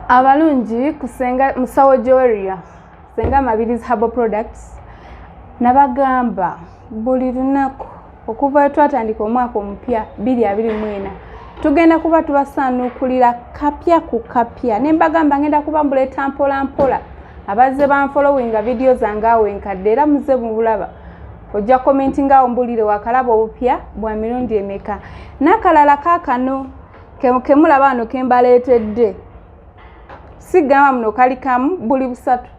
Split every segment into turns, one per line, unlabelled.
abalungi kusenga musawo joeria senga mabirizi habo products nabagamba buli lunaku okuva wetwatandika omwaka omupya biri abiri mwena tugenda kuba tubasaanukulira kapya ku kapya ne mbagamba ngenda kuba mbuleeta mpola mpola abazze banfolowinga vidiyo zange awo enkadde era muze mubulaba ojja komentinga awo mbulire wakalaba obupya bwa mirundi emeka nakalala kakano kemulaba wano kembaleetedde sigamba muno kali kamu buli busatu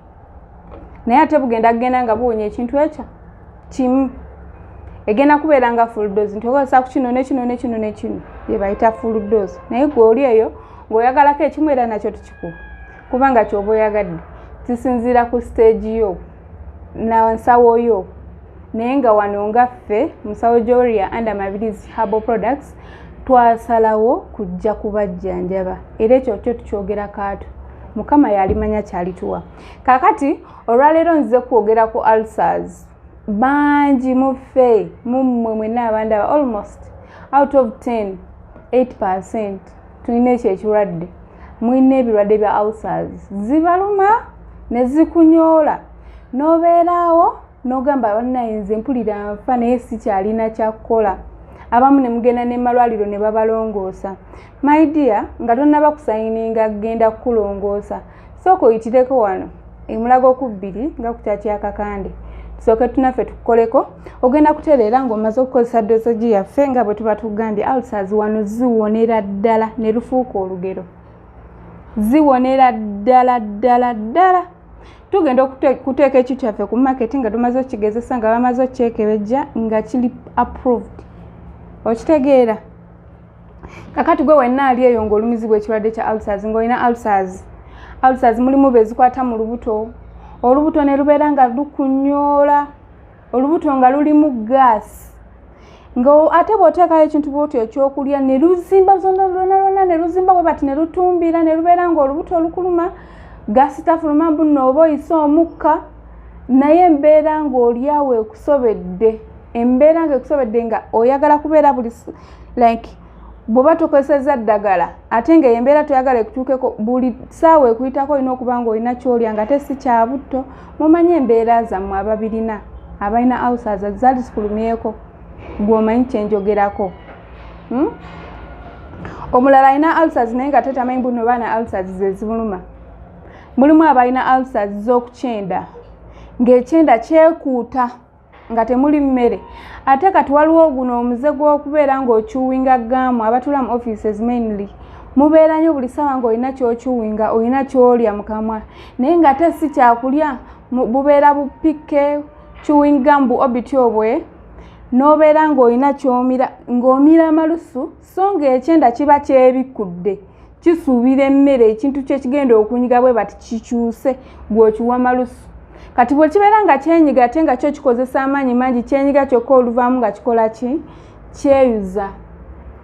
naye ate bugenda kugenda nga buwonya ekintu ekyo kimu egenda kubeera nga fuldosi nti okozesa ku kino nekino nekino nekino byebayita fuldosi naye gwe oli eyo ngaoyagalako ekimu era nakyo tukikuba kubanga kyoba oyagadde kisinziira ku siteegi yo nansawo yo naye nga wano nga ffe musawo joria and amabilis harbo products twasalawo kujja kubajjanjaba era ekyo kyo tukyogera kaatu mukama yalimanya kyalituwa kakati olwaleero nzize kwogera ku ulcers bangi muffe mummwe mwena abandaba almost out of 10 8 percent tulina ekyo ekirwadde mulina ebirwadde bya ulcers zibaluma ne zikunyoola n'obeeraawo n'ogamba bannaye nze mpulira nfa naye sikyalina kyakukola abamu ne mugenda ne malwaliro ne babalongoosa my dear nga tonnaba kusayininga kugenda kukulongoosa sooka oyitireko wano emulaga okubbiri nga kukyakyakakande tusooke tunaffe tukukoleko ogenda kutereera ng'omaze okukozesa dosogi yaffe nga bwe tuba tugambye alsas wano ziwonera ddala ne lufuuka olugero ziwonera ddala ddala ddala tugenda okuteeka ekyu kyaffe ku maketi nga tumaze okigezesa nga bamaze okyekebejja nga kiri approved okitegeera kakati gwe wenna ali eyo ngaolumizibwa ekirwadde kya alsars ngaolina alsars alsars mulimu bezikwata mu lubuto olubuto ne lubeera nga lukunyoola olubuto nga lulimu gaasi nga ate bwoteekayo ekintu bwoti ekyokulya ne luzimba zona lwona lwona ne luzimba bwe bati ne lutumbira ne lubeera nga olubuto olukuluma gaasi tafuluma mbunno oba oyise omukka naye embeera ng'olyawo ekusobedde embeera nga ekusobedde nga oyagala kubeera buli like bwoba tokozesezza ddagala ate nga embeera toyagala ekutuukeko buli saawa ekuyitako olina okuba nga olina kyolya nga te si kyabutto mumanye embeera zammwe ababirina abalina ausaza zali zikulumyeko gwomanyi kyenjogerako hmm? omulala alina alsas naye nga tetamanyi buno baana alsas zezimuluma mulimu abalina alsas z'okukyenda ng'ekyenda kyekuuta nga temuli mmere ate kati waliwo guno omuze gw'okubeera ng'okyuwinga gaamu abatula mu offices mainly mubeera nyo buli ssaawa ng'olina kyokyuwinga olina kyolya mu kamwa naye ng'ate si kyakulya bubeera bupikke chewing gum bu obityo bwe n'obeera ng'olina kyomira ng'omira amalusu so ng'ekyenda kiba kyebikkudde kisuubira emmere ekintu kyekigenda okunyiga bwe bati kikyuse gweokiwa malusu kati bwe kibeera nga kyenyiga ate nga kyo kikozesa amaanyi mangi kyenyiga kyokka oluvaamu nga kikola ki kyeyuza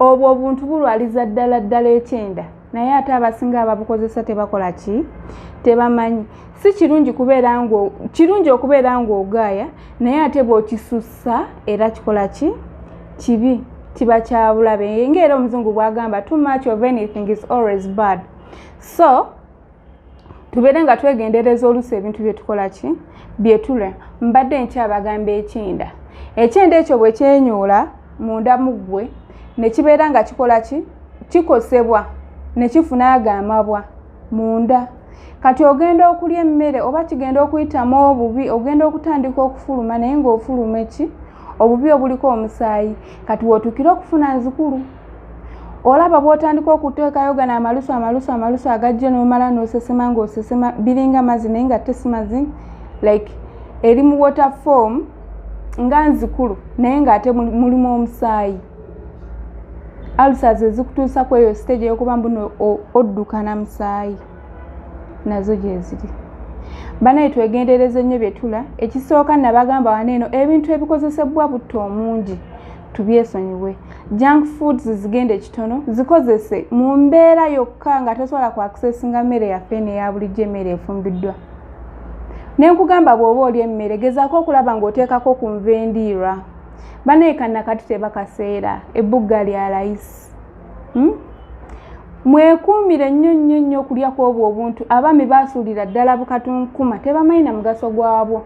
obwo obuntu bulwaliza ddala ddala ekyenda naye ate abasinga ababukozesa tebakola ki tebamanyi si kirungi kubeera nga kirungi okubeera ng'ogaaya naye ate bw'okisussa era kikola ki kibi kiba kyabulabe ngaera omuzungu bwagamba too much of anything is always bad so tubeere nga twegendereza oluusi ebintu byetukola ki byetule mbadde nkyabagamba ekyenda ekyenda ekyo bwe kyenyoola munda mu ggwe ne kibeera nga kikola ki kikosebwa ne kifuna ago amabwa munda kati ogenda okulya emmere oba kigenda okuyitamu obubi ogenda okutandika okufuluma naye ng'ofuluma eki obubi obuliko omusaayi kati wootukire okufuna nzikulu olaba bwotandika okuteekayo gano amalusu amalusu amalusu agajjo nomala nosesema ngaosesema biringa mazzi naye nga tesi mazzi like eri mu water form nga nzikulu naye ngaate mulimu omusaayi alsas ezikutuusa ku eyo stage eyokuba mbuno oddukana musaayi nazo gyeziri banaye twegendereza ennyo byetula ekisooka nabagamba wano eno ebintu ebikozesebwa butta omungi tubyesonyiwe junk foods zigenda ekitono zikozese mu mbeera yokka nga tosobola ku accessinga mmere yaffe neya bulijjo emmere efumbiddwa ne nkugamba bw'oba oli emmere gezaako okulaba ng'oteekako ku nva endiirwa banayekanakati tebakaseera ebbugga lya layisi hmm? mwekuumire nnyo nnyo nnyo okulya kw'obwo obuntu abaami baasuulira ddala bukatunkuma tebamanyi na mugaso gwabwo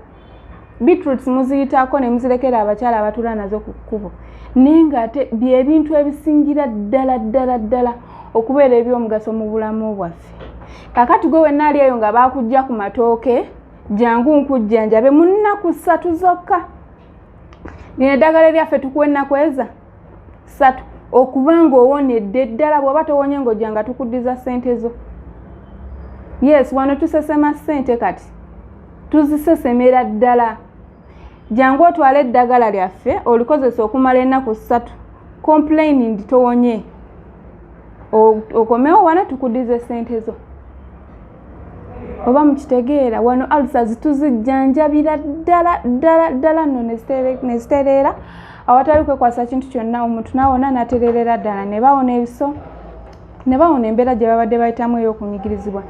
beetroots muziyitaako ne muzirekera abakyala abatula nazo ku kkubo naye ng'ate byebintu ebisingira ddala ddala ddala okubeera ebyomugaso mu bulamu bwaffe kakati gwe wenna ali eyo nga baakujja ku matooke jangu nkujjanjabe mu nnaku ssatu zokka lino eddagala eryaffe tukuwa ennaku eza satu okuba ng'owonedde ddala bw'oba towonye ng'ojja nga tukuddiza ssente zo yes wano tusesema ssente kati tuzisesemera ddala jangu otwale eddagala lyaffe olikozesa okumala ennaku ssatu complaining towonye okomewo wano tukuddiza ssente zo oba mukitegeera wano alusa zituzijjanjabira ddala ddala ddala no nezitereera awatali kwekwasa kintu kyonna omuntu nawona natererera ddala ne bawona ebiso ne bawona embeera gye babadde bayitamu ey'okunyigirizibwa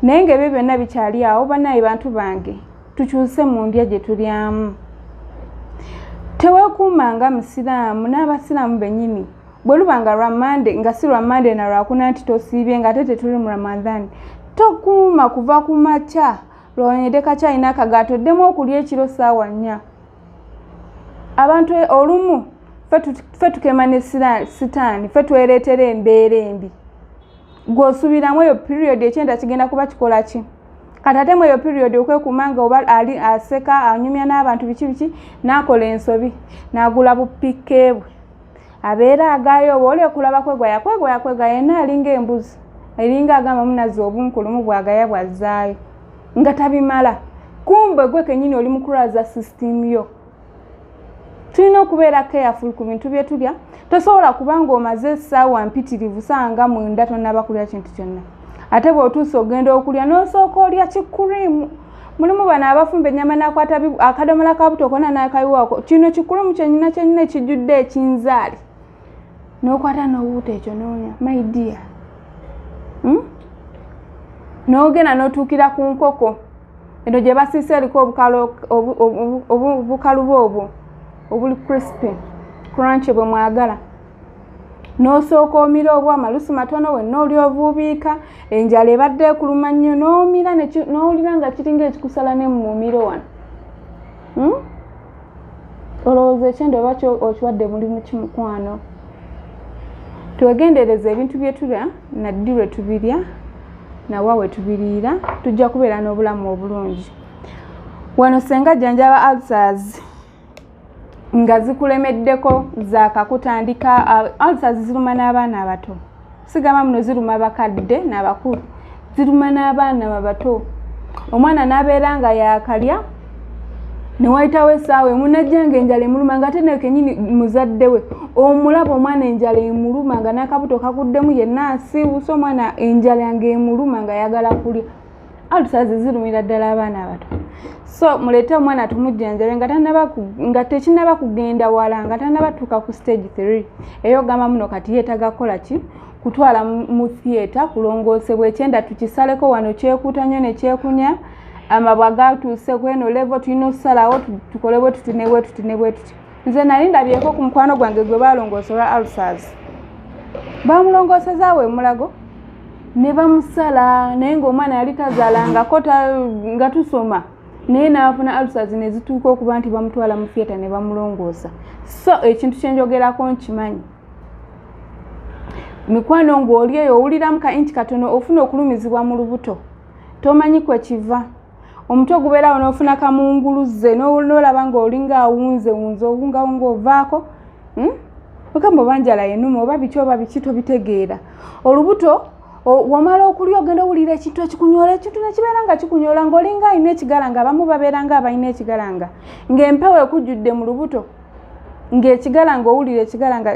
naye ngaebyo byonna bikyali awo banaye bantu bange tukyuse mu ndya gye tulyamu tewekuuma nga musiraamu n'abasiraamu bennyini bwe luba nga lwa mande nga si lwa mande na lwakuna nti tosiibye nga ate tetuli mu ramadhan tokuuma kuva ku makya lwonyede kakyalina akagaato ddemu okulya ekiro saawa nnya abantu e, olumu fe tukema ne sitaani fe twereetera embeera embi gwosubiramu eyo period ekyenda kigenda kuba kikola ki kati ate mu eyo period okwekuuma nga oba ali aseka anyumya n'abantu biki biki n'akola ensobi n'agula bupikkeebwe abeera agaayo oba oli okulaba kwegoya kwegoya kwegoya yena alinga embuzi eringa agamba munazi obunkulumu bwagaya bwazzaayo nga tabimala kumbe gwe kenyini oli mukulaza system yo tulina okubeera careful ku bintu bye tulya tosobola kuba ng'omaze essaawa mpitirivu sanga mwenda tonaba kulya kintu kyonna ate bw'otuusa ogenda okulya n'osooka olya kikuriimu mulimu bano abafumba ennyama n'akwata akadomola ka buto kona n'akayiwaako kino kikulumu kyenyina kyenyina ekijjudde ekinzaali n'okwata n'obuuta ekyo noonya my dear hmm? n'ogenda n'otuukira ku nkoko eno gye basiisa eriko obukaluba obwo obuli crispy crunch bwe mwagala n'osooka omira obwama lusi matono wenna oli ovuubiika enjala ebadde ekuluma nnyo n'omira n'owulira nga kiringa ekikusala ne mu mumiro wano hmm? olowooza ekyenda oba okiwadde mulimu kimukwano twegendereza ebintu byetulya naddi lwe tubirya nawa we tubiriira tujja kubeera n'obulamu obulungi wano senga jjanjaba alsars nga zikulemeddeko zakakutandika alsa ziruma n'abaana abato sigamba muno ziruma bakadde n'abakulu ziruma n'abaana babato omwana n'abeera nga yakalya newayitawo esaawa emunajjanga enjala emuluma nga atenayo kenyini muzadde we omulaba omwana enjala emuluma nga nakabuto kaguddemu yenna asiiwusa omwana enjala nga emuluma nga ayagala kulya alusazi zirumira ddala abaana abato so muleete omwana tumujjanjabe nga tanaba nga tekinaba kugenda wala nga tanaba tuuka ku stage three eyo ogamba muno kati yeetaga kukola ki kutwala mu theatre kulongoosebwa ekyenda tukisaleko wano kyekuuta nnyo ne kyekunya amabwa gatuuse kweno levo tulina okusalawo tukole bwe tuti ne bwe tuti ne bwe tuti nze nali ndabyeko ku mukwano gwange gwe balongoosa olwa alsas bamulongoosezaawo emulago ne bamusala naye ngaomwana yali tazalangako nga tusoma naye naafuna alsas nezituuka okuba nti bamutwala mu theatre ne bamulongoosa so ekintu kyenjogerako nkimanyi mikwano ng'oli eyo owuliramu ka inti katono ofuna okulumizibwa mu lubuto tomanyi kwe kiva omutwe gubeerawo nofuna kamunguluze nolaba nga olinga awunze wunze owungawunga ovaako hmm? ogamba oba njala yenuma oba biki oba biki tobitegeera olubuto wamala okulya ogenda owulira ekintu ekikunyola ekintu nekibeera nga kikunyola ngaolinga alina ekigalanga abamu babeera nga abalina ekigalanga ngaempewo ekujjudde mu lubuto ngaekigalanga owulira ekigalanga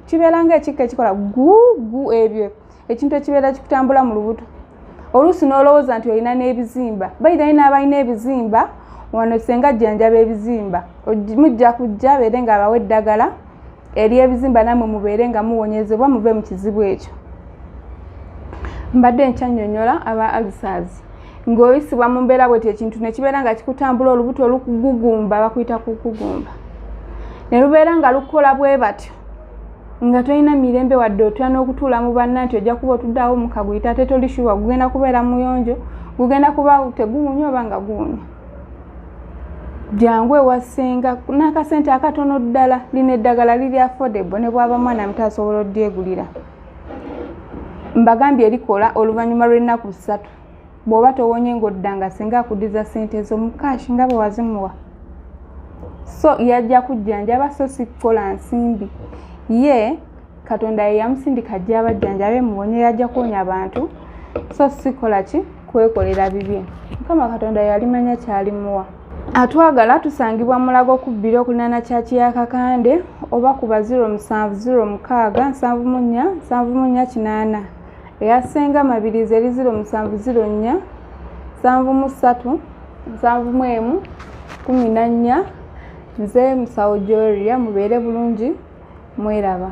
kibeera nga ekikka ekikola gugu ebyo ekintu ekibeera kikutambula mu lubuto oluusi n'olowooza nti olina n'ebizimba bayira yina abalina ebizimba wano senga jjanjaba ebizimba mujja kujja beere nga abawa eddagala eri ebizimba namwe mubeere nga muwonyezebwa muve mu kizibu ekyo mbadde nkyanyonyola aba alsas ng'oyisibwa mu mbeera bweti ekintu nekibeera nga kikutambula olubuto olukugugumba bakuyita kukugumba ne lubeera nga lukola bwe batyo nga tolina mirembe wadde otya n'okutuula mu banna nti ojja kuba otuddeawo mukaguyita ate toli shuwa gugenda kubeera muyonjo gugenda kuba teguwunya oba nga guwunya jangu ewasenga n'akasente akatono ddala lino eddagala liri affordable ne bwaba mwana muto asobola odyegulira mbagambye erikola oluvannyuma lw'ennaku ssatu bw'oba towonye ng'odda nga singa akudiza ssente ezo mu cash nga bwe wazimuwa so yajja kujjanjaba so si kukola nsimbi ye katonda ye yamusindika ajja abajjanjabe muwonye yajja kuwonya abantu so sikola ki kwekolera bibye mukama katonda yalimanya kyalimuwa atwagala tusangibwa mulago okubbira okulinaana kyaki ya kakande oba kuba 0706 74 kinaana eya senga mabirizi eri ziro musanvu ziro nnya nsanvu mu ssatu nsanvu mu emu kumi na nnya nze musawo joria mubeere bulungi mweraba